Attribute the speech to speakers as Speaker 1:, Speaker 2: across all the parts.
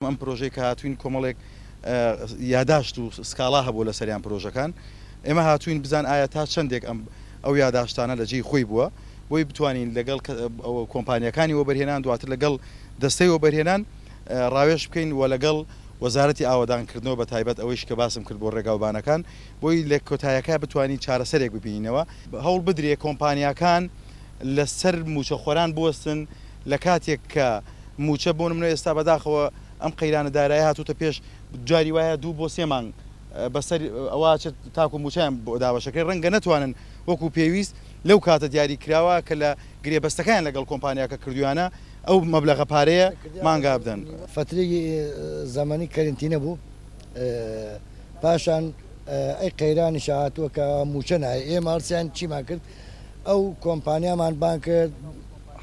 Speaker 1: ئەم پرۆژەی کە هاتووین کۆمەڵێک یاداشت و سکاڵا هەبووە لەسەریان پرۆژەکان ئێمە هاتووین بزان ئایا تا چەندێک ئەم ئەو یاداشتانە لە جێی خۆی بووە بۆی بتوانین لەگەڵ کۆمپانیەکانی وەبەرهێنان دواتر لەگەڵ دەستەی وەبەرهێنان ڕاوێش بکەین و لەگەڵ وەزارەتی ئاوەدانکردنەوە بە تایبەت ئەوەیش کە باسم کرد بۆ ڕێگاوبانەکان بۆی لە کۆتایەکە بتوانین چارەسەرێک ببینینەوە هەوڵ بدرێ کۆمپانیاکان لەسەر مووچەخۆران بوەستن لە کاتێک کە مووچە بۆ نمونە ئێستا بەداخەوە ئەم قەیرانە دارایە هاتووتە پێش جاری وایە دوو بۆ سێ مانگ بەسەر ئەوە چێت تاکو مووچەیان بۆ دابەشەکەی ڕەنگە نەتوانن وەکو پێویست لەو کاتە دیاری کراوە کە لە گرێبەستەکەیان لەگەڵ کۆمپانیاکە کردویانە ئەو مەبلەغە پارەیە مانگا بدەن. فترەی
Speaker 2: زەمەنی کەرنتینە بوو پاشان ئەی قەیرانیشە هاتووە کە مووچە نایە ئێمە هەڵسیان چیمان کرد ئەو کۆمپانیامان بانگ کرد،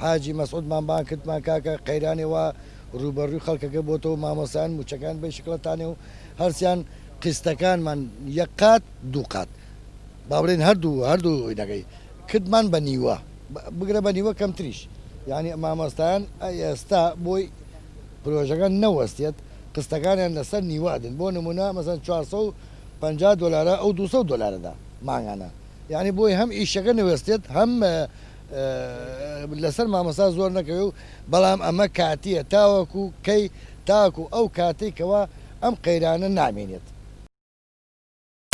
Speaker 2: حاجی مەسعود مان بانگ کرد مان کاکە قەیرانێ وا رووبەڕووی خەڵکەکە بۆتەوە مامۆستایان مووچەکان بەی شکڵە تانێ و هەرچیان قیستەکانمان یەک قات دوو قات با بڵێین هەردوو هەردوو ئینەکەی کردمان بە نیوە بگرە بە نیوە کەمتریش یانی مامۆستایان ئێستا بۆی پرۆژەکە نەوەستێت قستەکانیان لەسەر نیوە ئەدن بۆ نمونە مەسەن 450 دۆلارە ئەو 200 دۆلارەدا مانگانە یانی بۆی هەم ئیشەکە نەوەستێت هەم لەسەر مامۆستا زۆر نەکەوێ و بەڵام ئەمە کاتیە تاوەکو کەی تاکو ئەو کاتەی کەوا ئەم قەیرانە نامێنێت.